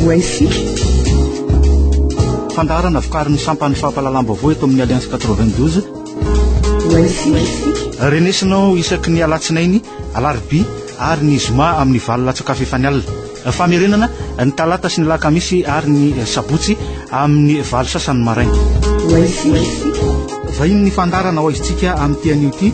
Wi-Fi. Fandaharana vokarin'ny sampan'ny fampahalalam-baovao eto amin'ny Alliance 92. Wi-Fi. Renesinao isaky ny alatsinainy, alarobia ary ny zoma amin'ny valo latsaka fefany alina. Famerenana ny talata sy ny lakamisy ary ny sabotsy amin'ny valo sasany maraina. Wi-Fi. Vahiny ny fandaharana ho aizintsika amin'ny tian'io ity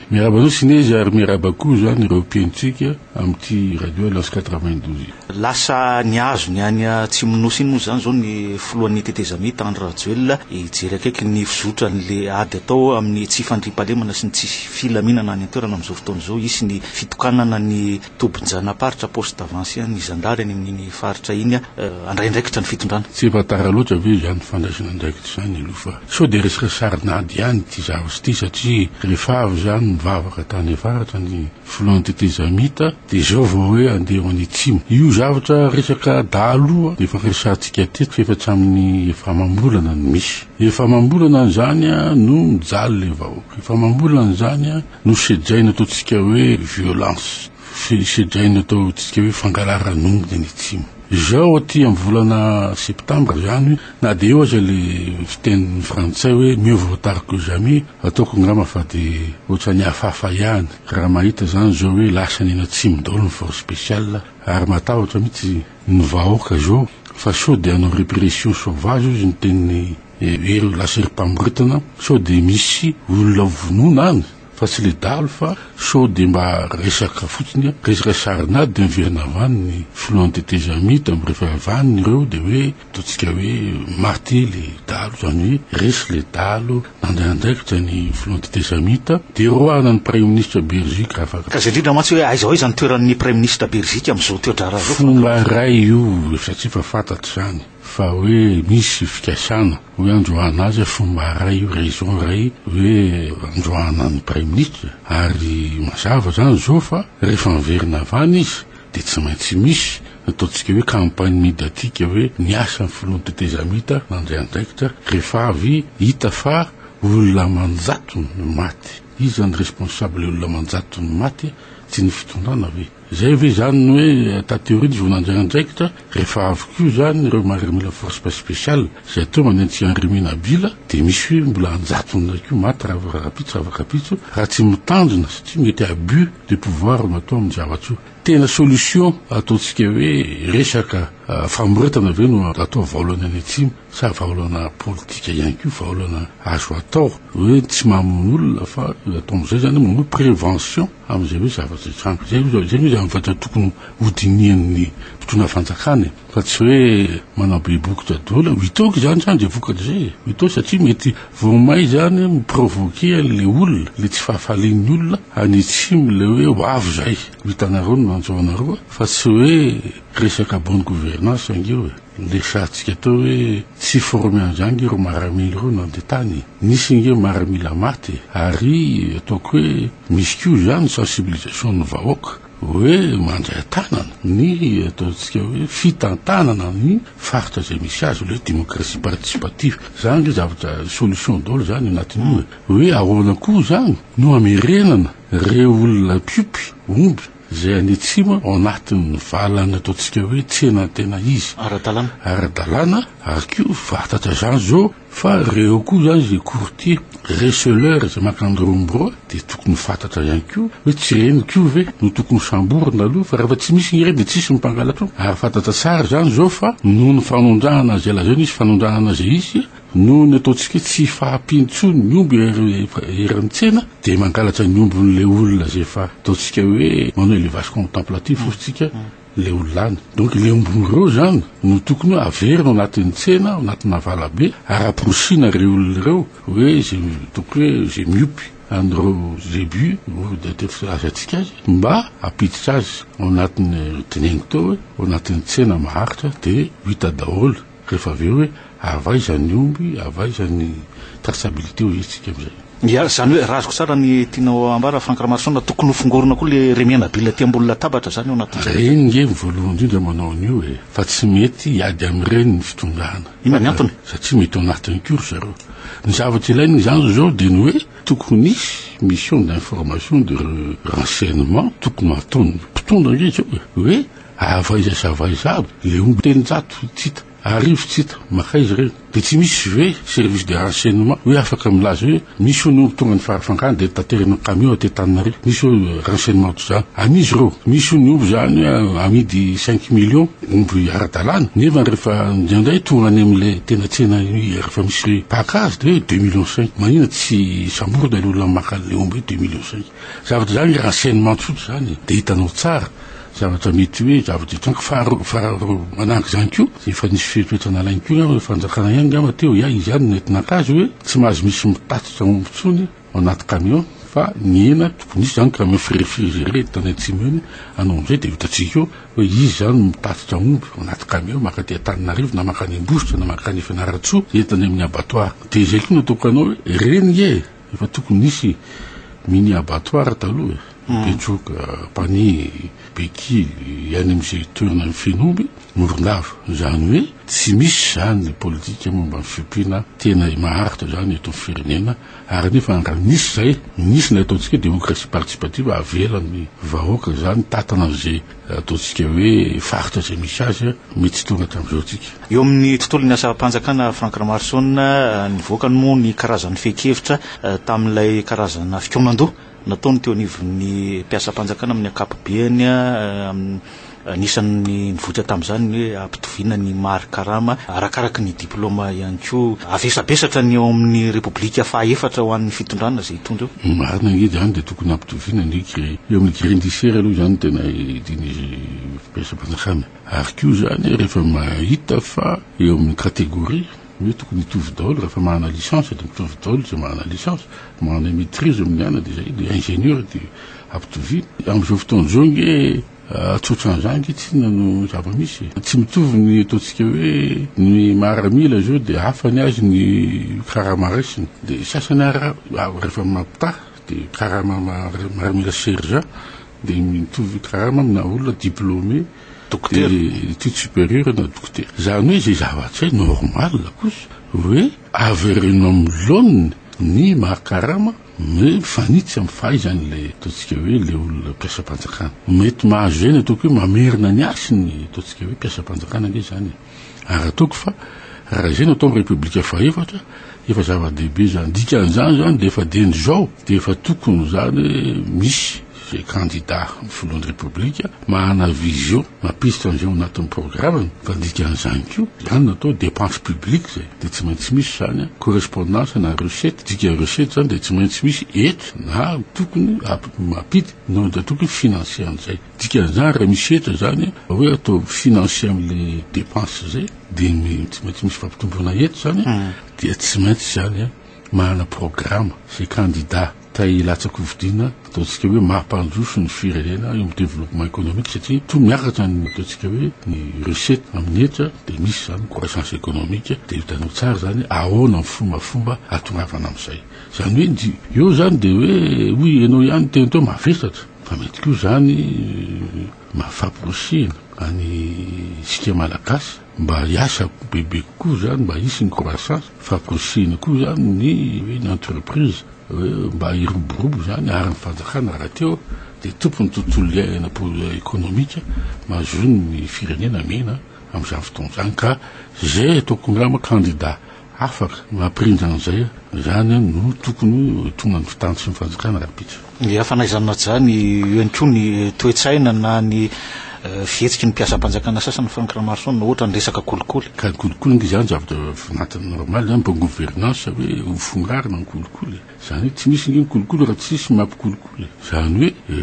Miarahaba anao Sinezy ary miarahaba koa izany ireo mpihainotsika amin'ity Radio Alliance quatre-vingt-douze. Lasa nihazo ny any Atsimonosy iny moa izany izao ny filohan'ny tetezamita Andry Rajoelina hijery akaiky ny fizotran'ilay ady atao amin'ny tsy fandriampahalemana sy ny tsy filaminana any an-toerana amin'izao fotoana izao hisy ny fitokanana ny Tobin-janaparitra, poste d'avance, ny zandary any amin'iny faritra iny handray andraikitra ny fitondrana. Tsy efa tara loatra ve izany fandraisana andraikitra izany aloha fa sao dia resaka sarin'ady ihany ity zavatra ity satria rehefa avy izany mivavaka tany avaratra ny filoha antetezamita dia izao vao hoe handeha ho any atsimo. Io zavatra resaka dahaloha dia efa resahantsika teto fa efa tsy amin'ny efa amam-bolana no misy. Efa amam-bolana izany no mijaly ilay vahoaka. Efa amam-bolana izany. Nosedraina ataontsika hoe violence, sedraina ataontsika hoe fangalaran'ongotra ny tsimo. Izao aty amin'ny volana septambra izany, na dia eo aza ilay fiteny frantsay hoe mieux vaut tard que jamais, ataoko angamba fa dia ohatran'ny hafahafa ihany raha mahita izany izao hoe lasa any an'atsimo daholo ny force spéciale ary matahotra mihitsy ny vahoaka izao fa sao dia hanao répression sauvage hozy ny tenin'i Hevero ilay serim-pamoretana sao dia misy olona ho vonoina any fa tsy le dahalo fa sao dia mba resaka fotsiny, resaka sarina dia miverina avy any ny filohan'ny tetezamita dia miresaka avy any ireo dia hoe ataontsika hoe maty le dahalo izany hoe resy le dahalo nandray andraikitra ny filohan'ny tetezamita dia roahina ny praiminisitra Berzika afaka. Ka zay indrindra mantsy hoe aiza aiza ny toeran'ny praiminisitra Berzika amin'izao toedraharaha izao. Fomba iray io satria efa fantatra izany. fa hoe misy fikasana hoe androahana azy a fomba iray io raison iray hoe androahana ny praiminisitra ary mazava izany izao fa rehefa miverina avy any izy dia tsy maintsy misy ataontsika hoe campagne médiatique hoe niasa ny filoha ny tetezamita nandray andraikitra rehefa avy hita fa olona aman-jatony no maty iza ny responsable olona aman-jatony maty tsy ny fitondrana ve Izay ve izany ny hoe taty aoriana izy vao nandray andraikitra rehefa avy koa izany ireo miaramila force speciale izay atao manentsika an'i Remy Nabila dia misy hoe mbola anjatony indray koa maty ravorarapitso ravorapitso raha tsy mitandrina satria mety abus de pouvoir no atao amin'ny zavatra io. Tena solution ataontsika hoe resaka famoretana ve no atao vaolany any atsimo. Sa vahaolana politika ihany koa vahaolana azo atao hoe tsy mamono olona fa atao amin'izay zany hoe manao prévention amin'izay hoe zavatra hitranga. Zay zao zay zany vata tokony hodinihan'ny mpitondra fanjakana e! Fa tsy hoe manao be bokotra doly. Mitaoko izany zany zay vokatra izay e! Mitaoko satria mety vao may zany mi-provoquer an'le olona, le tsy fahafalian'ny olona any atsimo le hoe ho avy zay. Ho hitanareo ny nanjo anareo fa tsy hoe resaka bonne gouvernance ange io e! Resahantsika teo hoe tsy former anzany ireo maramila ireo nandeha tany e! Nisy ange maramila maty e! Ary ataoko hoe misy koa izany sensibilisation ny vahoaka hoe mandray an-tanana ny ataontsika hoe fitantanana ny faritra izay misy azy ilay démocratie participative. Izany ve zavatra solution daholo izany anatin'io e! Hoe ahoana koa izany no hamerenana ireo olona mpiompy omby izay any atsimo ao anatin'ny valany ataontsika hoe tsena ny tena izy ara-dalàna ara-dalàna ary koa fahatatra izany zao fa reo koa izany izay courtier receleur izay makany rombroa dia tokony ho fahatatra ihany koa hoe tsy ireny koa ve no tokony ho samborina aloha fa rehefa tsy misy ireny dia tsy misy mpangalatra ary fahatatra tsara izany zao fa noho ny fanondrahana izay lazaina izy fanondrahana izay izy Noho ny ataontsika tsy fahampiany intsony ny omby eran'ny tsena dia mangalatra ny ombin'ilay olona izay efa ataontsika hoe manao élevage contemplatif hoy isika ilay olona any. Donc ilay ombin'ireo izany no tokony hoe averina ao anatin'ny tsena, ao anatin'ny navalabe ary aporisiana ireo olona ireo hoe izay donc hoe izay miompy an'ireo zébus ireo dia atety filazantsika azy mba hampiditra azy ao anatin'ny teneniko teo hoe ao anatin'ny tsena maharitra dia ho hita daholo Rehefa avy eo hoe avy aiza ny omby, avy aiza ny traçabilité ho hetsika amin'izay. Ia, izany hoe raha azoko tsara ny tianao ambara Franck Ramaroson, tokony ho fongorina koa ilay Remenabila aty ambony latabatra izany ao anatin'izay. Ireny nge ny voalohany indrindra manao an'io e, fa tsy mety hiady amin'ireny ny fitondrana. Inona ny antony? Satria mety ao anatiny koa ry zareo. Ny zavatra ilaina izany izao dia ny hoe tokony hisy mission d'information de renseignement tokony ho ataon'ny mpitondra ange izao e, hoe Avy aiza sy avy aiza aby ilay omby? Teny zato tsy hita, arivo tsy hita, makaiza ireny? Dia tsy misy ve service de renseignement hoe afaka milaza hoe misy hono omby tonga ny farafangana dia taterina amin'ny camion aty Antananarivo? Misy ve renseignement toy izany? An'iza ireo? Misy hono ny omby izany hoe amidy cinq millions, omby ara-dalàna, nefa rehefa indraindray tonga any amin'ilay tena tsena rehefa misy mpaka azy dia hoe deux millions cinq. Maninona tsy samborina ilay olona maka an'ilay omby hoe deux millions cinq? Zavatra izany renseignement tsotra izany dia hitanao tsara zavatra mety hoe zava-drehetra any koa fa manahaka izany koa efa nisy fepetra nalainy koa angamba fanjakana ihany angamba teo ya izy ihany nety naka azy hoe tsy mahazo misy mitatitra omby intsony ao anaty camion fa nihena tokony hisy izany camion firefirizere eto tany atsimo eny anao amin'izay dia hitantsika eo hoe izy izany mitatitra omby ao anaty camion mankaty Antananarivo na mankany Ambositra na mankany Fianarantsoa entiny amin'ny abattoir dia izay koa no ataoko anao hoe ireny nge Efa tokony nisy mini abattoir taloha e, Betroka, Panihy, Beky, any amin'izay toerana mifehy omby, Morondava. Izany hoe tsy misy izany ny politika momba ny fiompiana tena maharitra izany eto amin'ny firenena ary anefa raha nisy izay, nisy ilay ataontsika hoe démocratie participative, avela ny vahoaka izany, tantana an'izay. Ataontsika hoe faritra izay misy azy, mety hitovy tamin'izao tsika. Eo amin'ny tontolon'ny asam-panjakana, Franck Ramaroson, nivoaka ny moa ny karazan'ny fehin-kevitra tamin'ilay karazana fikaonan-doha nataony teo anivon'ny mpiasam-panjakana amin'ny ankapobeny anisan'ny nivoitra tamin'izany ny hoe hampitoviana ny mari-karama arakaraky ny Diplaoma ihany koa. Avesabesatra ny ao amin'ny Repoblika faha efatra ho an'ny fitondrana izay hitondra eo. Ny marina ange izany dia tokony hampitoviana ny gre. Eo amin'ny gre indisiera aloha izany no tena idian'izy mpiraisampanjakana. Ary koa izany rehefa mahita fa eo amin'ny kategoria hoe tokony hitovy daholo rahefa manana licence dia mitovy daholo izay manana licence. Manana maitrise amin'ny anana dia izay, dia ingénieur dia ampitoviana. Amin'izao fotoana izao ange. Tsotran'izany ankehitriny no zava-misy. Tsy mitovy ny ataontsika hoe ny maramila izao dia hafa ny azy ny karama raisiny. Dia sasany ary rehefa mampitaha dia karama maramila sergent dia mitovy karama amina olona diplômé d'études supérieures na dokotera. Izany hoe izay zava-tsy normal kosa hoe avereno amin'ny laoniny ny maha karama. Hoe mifanitsy amin'ny fahaizany ilay ataontsika hoe ilay olona mpiasam-panjakana. Mety mahazo izay ny ataoko hoe mamerina ny hasiny ny ataontsika hoe mpiasam-panjakana ange izany e. Ary ataoko fa raha izay no atao amin'ny Repoblika fahefatra, efa zava-dehibe izany. Dikan'izany izany dia efa dieny izao dia efa tokony izany hoe misy Izay kandida ho filohan'ny Repoblika manana vision mampisitra an'izay ao anatin'ny programany fa ny dikan'izany koa izany no atao dépense publique izay dia tsy maintsy misy izany an, correspondance na recette, dika recette izany dia tsy maintsy misy hetra na tokony mampita na dia tokony financer an'izay. Dikan'izany raha misy hetra izany an, raha hoe atao financer amin'ilay dépense izay dia tsy maintsy misy fampitomboana hetra izany an, dia tsy maintsy izany an manana programa izay kandida. Te hilatsaka ho fidiana, ataontsika hoe mampandroso ny firenena eo amin'ny développement économique satria toa miakatra ny ataontsika hoe ny recette amin'ny hetra dia misy izany croissance économique dia hitanao tsara izany ahoana ny fombafomba hatongavana amin'izay. Izany hoe ny eo izany dia hoe hoy ianao ihany teny teo mavesatra fa mety koa izany maha faporisiana an'isika malagasy. Mba hiasa bebe kokoa izany, mba hisy ny croissance, fa kosihina koa izany ny hoe ny entreprise, hoe mba hiroborobo izany ary ny fanjakana rahateo dia tompon'ny tontolo iainana économique mahazoan'ny firenena mena amin'izany fotoana izany ka izay ataoko angamba candidat Afaka no hampirindra an'izay aho. Izany no tokony ho tonga ny fotoan tsy ny fanjakana rahampitso. Dia fanaizan'Ajah ny eo ihany koa ny toe-tsaina na ny fihetsiky ny mpiasam-panjakana sasany Frank Ramarson ohatra ny resaka kolikoly. Ka ny kolikoly nge izany zavatra vinantana normal an, bonne gouvernance hoe ho fongarina ny kolikoly e. Izany hoe tsy misy nge ny kolikoly raha tsy misy ny mampikolikoly. Izany hoe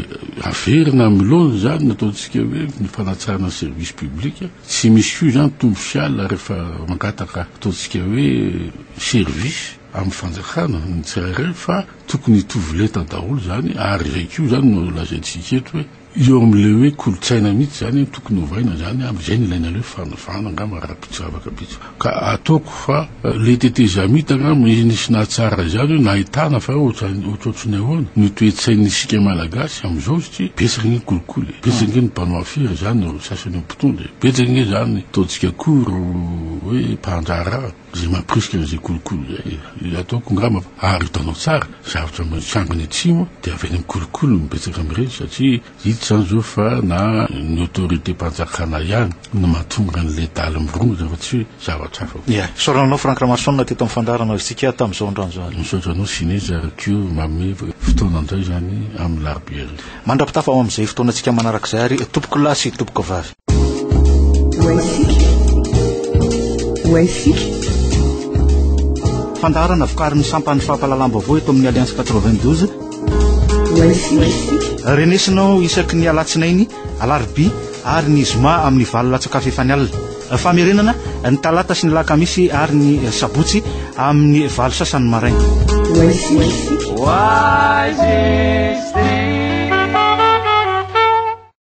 averina amin'ny laoniny izany ny ataontsika hoe ny fanatsarana ny service public. Tsy misy koa izany Tompo sy Allah rehefa mangataka ataontsika hoe service amin'ny fanjakana ny tsirairay fa tokony hitovy lenta daholo izany ary izay koa izany no lazaintsika eto hoe eo amin'ilay hoe kolontsaina mihitsy izany tokony ovaina izany amin'izay no ilaina ilay hoe fanavahana angamba ara-pitsy, zavatra vitsy Ka ataoko fa le tetezamita angamba izy nisy nahatsara izany hoe nahitana fa ohatrohatry ny ahoana ny toe-tsain'ny isika malagasy amizao satria betsaka ange ny kolikoly e, betsaka ange ny mpanao afera izany ro sasany eo mpitondra e, betsaka ange izany ataontsika koa ro hoe mpandraharaha izay mampirisika an'izay kolikoly izay e, ataoko angamba fa ary hitanao tsara zavatra mitranga any atsimo dia avy any amin'ny kolikoly no betsaka amin'ireny satria Hita izany izao fa na ny autorité-mpanjakana ihany no mahatonga an'ilay daly mirongotra fa tsy hoe zavatra hafa. Ie. Fisaorana anao Franck Ramason teto amin'ny fandaharana Isika tamin'ny izao androany izao. Misaotra anao Sinezy ary koa manome fotoana indray izany amin'ny Alarobia hariva. Mandra-pitafa ho amin'izay fotoanantsika manarak'izay ary tompokolahy sy tompokvavy. Fandaharana vokarin'ny sampan'ny fampahalalam-baovao eto amin'ny Alliance 92. Renesinao isaky ny alatsinainy, alarobia ary ny zoma amin'ny valo latsakafo efa ny alina. Famerenana ny talata sy ny lakamisy ary ny sabotsy amin'ny valo sasany maraina. Why